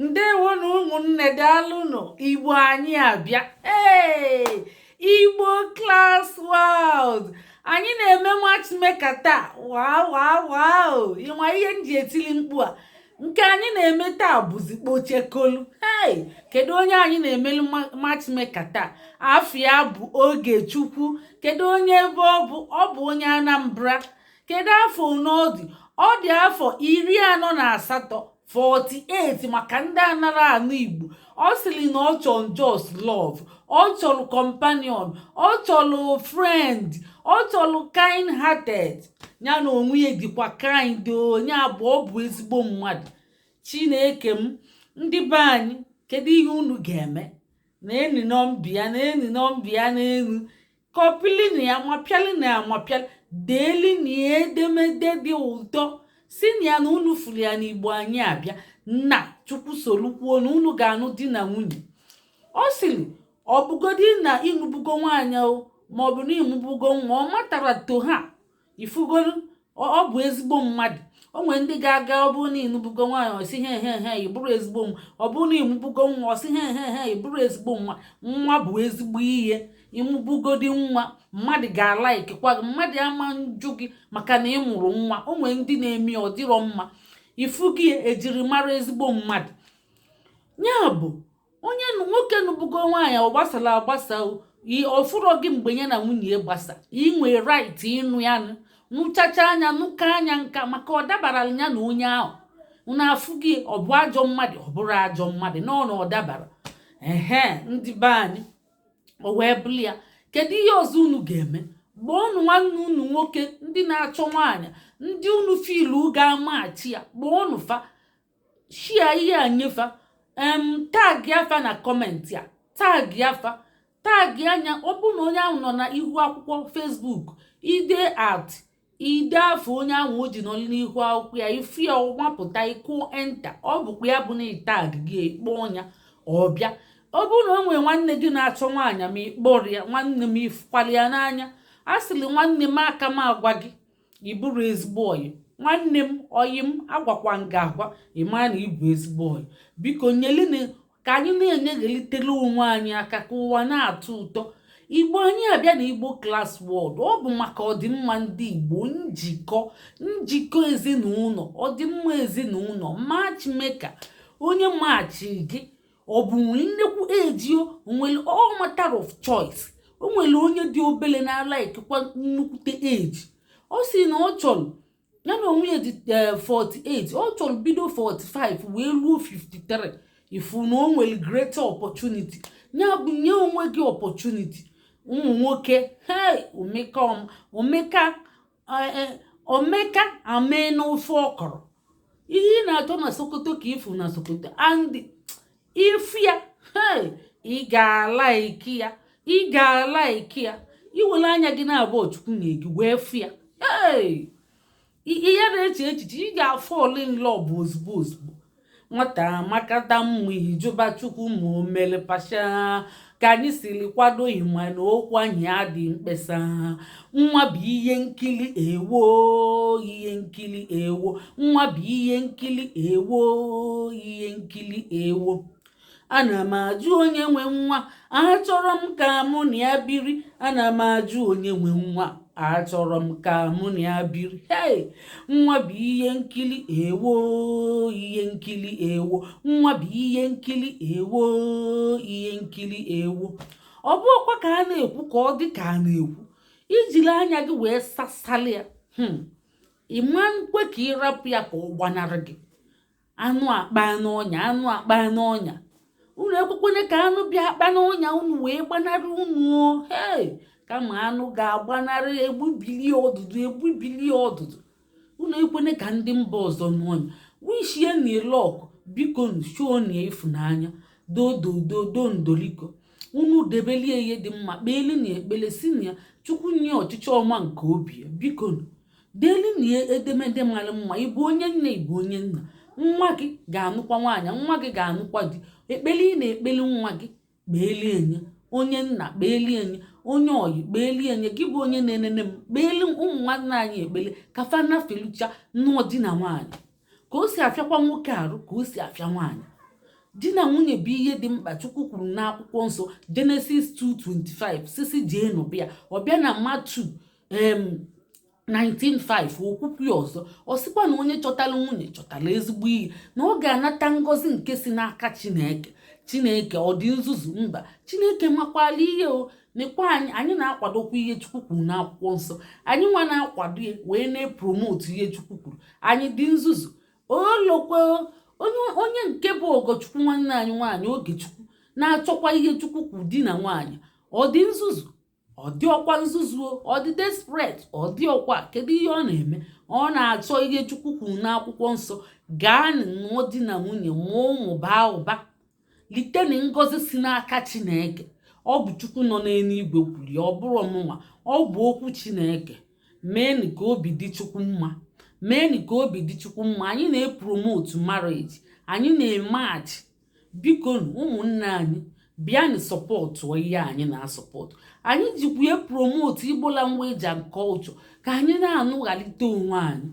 ndewo na ụmụnne daalụnụ igbo anyị abịa ee igbo class world anyị na-eme matchmaker taa waa waa waa ịma ihe m ji etili mkpu a nke anyị na-eme taa bụzi kpochekolu hey kedu onye anyị na-emelu matchmaker taa afa ya bụ Ogechukwu kedu onye ebe ọ bụ ọ bụ onye Anambra kedu afọ one ọ dị ọ dị afọ iri anọ na asatọ 48 maka ndị anara anụ igbo ọ sịrị na ọ chọrọ just love ọ chọrọ companion ọ chọrọ friend ọ chọrọ kind hearted ya na onwe ya dịkwa kind o ya bụ ọ bụ ezigbo mmadụ chineke m ndị be anyị kedu ihe unu ga-eme neenu nọmba ya neenu nọmba ya na enu kọpịlinu ya ma pịalinu ya ma pịa deelinu ya edemede dị ụtọ sinu ya na unu furu ya n'igbo anyị abịa na chukwu solu kwuo na unu ga-anụ di na nwunye ọ sịrị ọ bụgodi na ịnụbugo nwaanyị o ma ọ bụ na ịmụbugo nwa ọ matara to her ifugolu ọ bụ ezigbo mmadụ o nwere ndị ga-aga ọ bụrụ na ịnụbugo nwaanyị ọ sị he he he ị bụrụ ezigbo nwa ọ bụrụ na ịmụbugo nwa ọ sị he he he ị bụrụ ezigbo mmadụ nwa bụ ezigbo ihe ịmụbugodi nwa mmadụ ga-alaikikwa gị mmadụ ama njụ gị maka na ị mụrụ nwa o nwere ndị na-eme ọ dịrọ mma ifugo ihe ejiri mara ezigbo mmadụ ya bụ onye nwoke nụbugo nwaanyị ọ gbasara agbasa ọ fụrọ gị mgbe ya na nwunye gbasa i nwe right ịnụ ya nụchachaa ya nụkaa ya nka maka ọ dabara ya na onye ahụ unu afụ gị ọ bụ ajọ mmadụ ọ bụrọ ajọ mmadụ na ọ na ọ dabara ehe ndị be anyị o wee bụrụ ya kedu ihe ọzọ unu ga-eme kpọọnu nwanne unu nwoke ndị na-achọ nwaanyị ndị unu filu ga-amachi ya kpọọnu fa share ihe a nye fa em tagia fa na comment a tagia fa tagia ya ọ bụrụ na onye ahụ nọ na ihu akwụkwọ Facebook ide at ide afa onye ahụ o ji nọ n'ihu akwụkwọ ya ifu ya ọ mapụta ị kụ enter ọ bụkwa ya bụ na tag gị kpọọ ya ọ bịa ọ bụrụ na o nwere nwanne gị na-achọ nwaanyị ma ịkpọrọ ya nwanne m ifukwala ya n'anya a sịrị nwanne m aka m agwa gị ịbụrụ ezigbo ọyị nwanne m ọyị m agwakwa nga agwa ịmara na ịbụ ezigbo ọyị biko nyelinu aka anyị na-enyeghelitere onwe anyị aka ka ụwa na-atọ ụtọ igbo anyị abịa na igbo class world ọ bụ maka ọdịmma ndị igbo njikọ njikọ ezinụlọ ọdịmma ezinụlọ matchmaker onye machi gị ọ bụ nwee nnekwu age o nwere all matter of choice o nwere onye dị obele na-alikekwa nnukwute age ọ sị na ọ chọrọ ya na onwe ya dị 48 eh, ọ chọrọ bido 45 wee ruo 53 ị fụ na o nwere greater opportunity ya bụ nye onwe gị opportunity ụmụ nwoke hei omeka omeka e, omeka amee n'ofe ọkọrọ ihe ị na-achọ na sokoto ka ị fụ na sokoto and ị fụ ya ị ga-alike ya ị ga-alike ya i were anya gị naabọ chukwu nye gị wee fụ ya ị ya na-eche echiche ị ga-afall in love ozugbo ozugbo nwata makata mma ị jụba chukwu ma o mere partial ka anyị siri kwado ị ma na okwu anyị adị mkpesa nwa bụ ihe nkili ewo ihe nkili ewo nwa bụ ihe nkili ewo ihe nkili ewo ana m ajụ onye nwe nwa achọrọ m ka mụ na ya biri ana m ajụ onye nwe nwa achọrọ m ka mụ na ya biri hei nwa bụ ihe nkili ewo ihe nkili ewo nwa bụ ihe nkili ewo ihe nkili ewo ọ bụ ọkwa ka a na-ekwu ka ọ dị ka a na-ekwu i jiri anya gị wee sasali ya hmm. ị ma nkwe ka ị rapụ ya ka ọ gbanarị gị anụ akpa n'ọnya anụ akpa n'ọnya unu ekwekwene ka anụ bịa akpa n'ọnya unu wee gbanarị unu hei kama anụ ga-agbanarị e gbubili ọdụdụ e gbubili ya ọdụdụ unu ekwene ka ndị mba ọzọ nụọ ya wishienụ ya luck bikonụ shownụ ịfụnanya dodododo ndoliko unu debelie ihe dị mma kpeelụnụ ya ekpele sịnụ ya chukwu nye ya ọchịchọ ọma nke obi ya biko deelinụ ya edemede mara mma ị bụ onye nne ị bụ onye nna nwa gị ga-anụkwa nwaanyị nwa gị ga-anụkwa di ekpele ị na-ekpeli nwa gị kpeelie enye onye nna kpeelie enye onye ọyị kpeelie enye gị bụ onye na-enene m kpeeli ụmụ nwanne anyị ekpele ka fa nafelucha nụọ di na nwaanyị ka o si afịakwa nwoke arụ ka o si afịa nwaanyị di na nwunye bụ ihe dị mkpa chukwu kwuru n'akwụkwọ nsọ genesis 2:25 sisi jee n'ụbịa ọ bịa na matthew 19:5 o kwukwuo ya ọzọ ọ sịkwa na onye chọtara nwunye chọtara ezigbo ihe na ọ ga-anata ngọzi nke si n'aka chineke chineke ọ dị nzuzu mba chineke makwalụ ihe o nekwa anyị anyị na-akwadokwa ihe chukwu kwuru n'akwụkwọ nsọ anyị nwa na-akwado ya wee na-epromote ihe chukwu kwuru anyị dị nzuzu olokwe onye nke bụ ogochukwu nwanne anyị nwaanyị ogechukwu na-achọkwa ihe chukwu kwuru di na nwaanyị ọ dị nzuzu ọ dịrọkwa nzuzu o ọ dị desperate ọ dịrọkwa kedu ihe ọ na-eme ọ na-achọ ihe chukwu kwuru n'akwụkwọ nsọ gaanụ nụọ di na nwunye mụọ ụmụ baa ụba liteni ngọzi si n'aka chineke ọ bụ chukwu nọ n'eluigwe kwuru ya ọ bụrọ mụnwa ọ bụ okwu chineke meenụ ka obi dị chukwu mma meenụ ka obi dị chukwu mma anyị na-epromotu marriage anyị na-emachi bikonu ụmụnne anyị bịanụ sọpọtụ ihe anyị na-asọpọtụ anyị jikwa promotu Igbo language and culture ka anyị na-anụghalite onwe anyị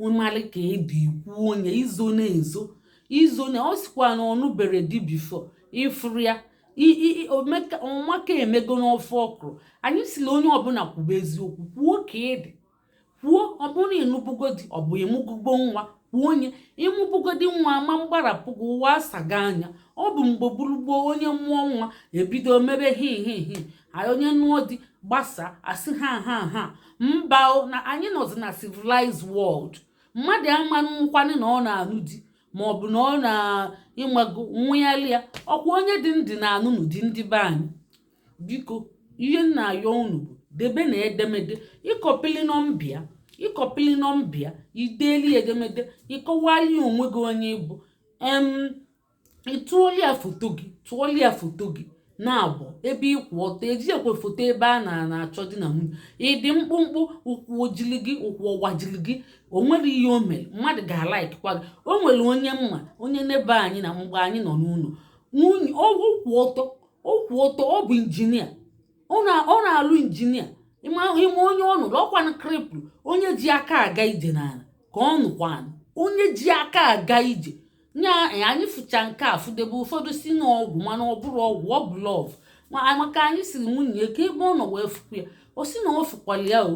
ị malị ka ị dị i kwuo onye izo na-ezo izo na ọ sikwa na ọ nụbero di before ị fụrụ ya ọmaka emego n'ofe ọkwụrụ anyị si na onye ọbụla kwube eziokwu kwuo ka ị dị kwuo ọ bụrụ na ị nụbugo di ọ bụ ị mụbugo nwa kwuo onye ị mụbugodi nwa ama mgbarapụ gị ụwa asago anya ọ bụ mgbe gboo bụrụ gboo onye mụọ nwa ebido mebe hihihi onye nụọ di gbasa asị ha ha ha mba na anyị nọzi na civilized world mmadụ ama nkwanye na ọ na-anụ di ma ọ bụ na ọ na-ịmago nwa ya ọkwa onye dị ndụ na-anụnụ di ndị be anyị biko ihe m na-ayọ unu bụ debenụ edemede ị kọpili nọmba a ị kọpili nọmba a i deeli edemede ị kọwali onwe gị onye ị bụ em ị tụọli ya foto gị tụọli ya foto gị na-abụ ebe ị kwụ ọtọ eji ekwe foto ebe a na na-achọ di na nwunye ị dị mkpụmkpụ ụkwụ ojili gị ụkwụ ọgbajili gị o nwerọ ihe o mere mmadụ ga-alaikikwa gị o nwere onye m ma onye neighbour anyị na mgbe anyị nọ n'ụlọ nwoke kwụ ọtọ ọ kwụ ọtọ ọ bụ injinia ọ na-alụ injinia ị ma onye ọ nụrụ ọkwanụ cripple onye ji aka aga ije n'ala ka ọ nụkwanụ onye ji aka aga ije nya anyị fụcha nke a fụdebe ụfọdụ si na ọ ọgwụ mana ọ bụrọ ọgwụ ọ bụ love maka anyị siri nwunye ya kee ebe ọ nọ wee fụkwa ya o si na ọ fụkwara ya o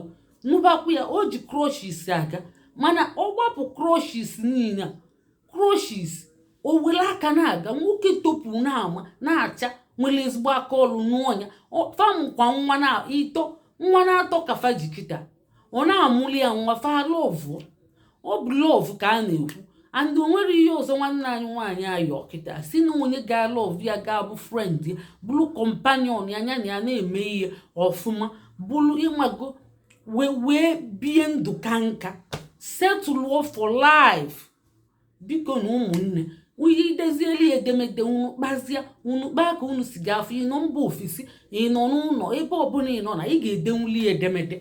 nụbakwa ya o ji crutches aga mana ọ gbapụ crutches niile a crutches o were aka na-aga nwoke topụrụ na-ama na-acha nwere ezigbo aka ọrụ nụọ nya fa mụkwa nwa na ito nwa na-atọ ka fa ji kịta ọ na-amụli ya nwa fa lọvụ ọ bụ love ka a na-ekwu and o nwere ihe ọzọ nwanne anyị nwaanyị ayọ kịta si na onye ga-alọvụ ya ga-abụ friend ya bụrụ companion ya nya na ya na-eme ihe ọfụma bụrụ ị mago wee wee bie ndụ ka nka setụlụọ for life bikonu ụmụnne onye i dezieli edemede unu kpazie unu kpaa ka unu si ga-afụ ị nọ mba ofesi ị nọ n'ụlọ ebe ọbụla ị nọ na ị ga-edenwuli edemede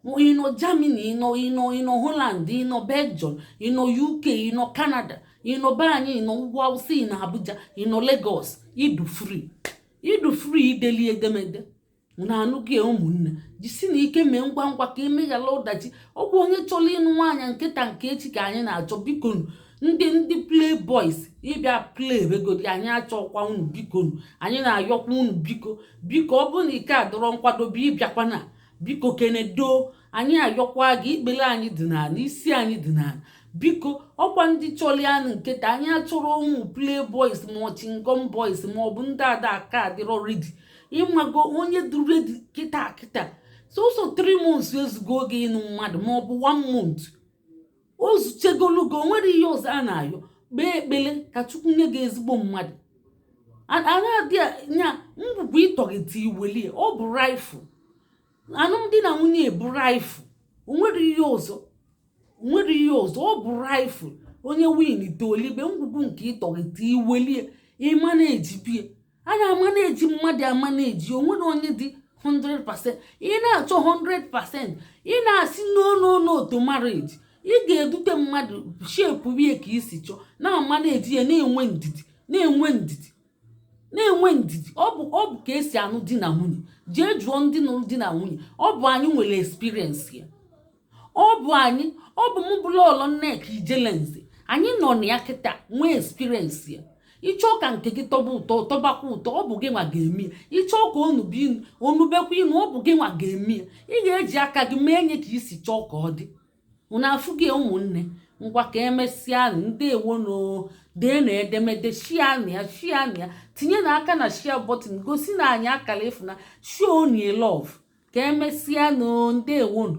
ị nọ Germany ị nọ ị nọ ị nọ Holland ị nọ Belgium ị nọ UK ị nọ Canada ị nọ be anyị ị nọ ugwu awụsa ị nọ Abuja ị nọ Lagos ị dị free ị dị free i deli edemede unu anụgo ụmụnne jisinụ ike mee ngwa ngwa ka emeghara ọdachi ọ bụ onye chọrọ ịnụ nwaanyị nke taa nke echi ka anyị na-achọ biko ndị ndị play boys ị bịa play begodi anyị achọkwa unu biko anyị na-ayọkwa unu biko biko ọ bụrụ na ị ka adịrọ nkwadobe abịakwana biko kenedo anyị ayọkwa gị ikpere anyị dị n'ala isi anyị dị n'ala biko ọkwa ndị chọlụ ịnụ nke taa anyị achọrọ ụmụ play boys ma chewing gum boys ma ọ bụ ndị na-aka adịrọ ready ị mago onye dị ready kịta kịta sọsọ 3 months ezugo oge ịnụ mmadụ ma ọ bụ 1 month o zuchegolugo o nwere ihe ọzọ a na-ayọ kpee ekpele ka chukwu nye gị ezigbo mmadụ anaghị ya ngwugwu ị tọgheta i welie ọ bụ raffle alụmdi na nwunye bụ raffle o nwere ihe ọzọ o nwere ihe ọzọ ọ bụ raffle onye winta o libe ngwugwu nke ị tọgheta i welie ị managebe ya a na-amanage mmadụ amanage o nwerọ onye dị 100% ị na-achọ 100% ị na-asị no no no to marriage ị ga-edute mmadụ shape ya ka i si chọọ na-amanage ya na-enwe ndidi na-enwe ndidi na-enwe ndidi ọ bụ ọ bụ ka e si anụ di na nwunye jee jụọ ndị nụrụ di na nwunye ọ bụ anyị nwere experience ya ọ bụ anyị ọ bụ mụ bụ lọlọ nneka ijele nze anyị nọ na ya kịta nwee experience ya ị chọọ ka nke gị tọba ụtọ tọbakwa ụtọ ọ bụ gị nwa ga-eme ya ị chọọ ka o nube inu o nubekwa inu ọ bụ gị nwa ga-eme ya ị ga-eji aka gị mee nye ka i si chọọ ka ọ dị unu afụgo ụmụnne ngwa ka emesịa ndewonụ deenụ edemede share nụ ya share nụ ya tinyenụ aka na share button gosinụ anyị akara ịfụnanya show nụ love ka emesịanụ ndewonụ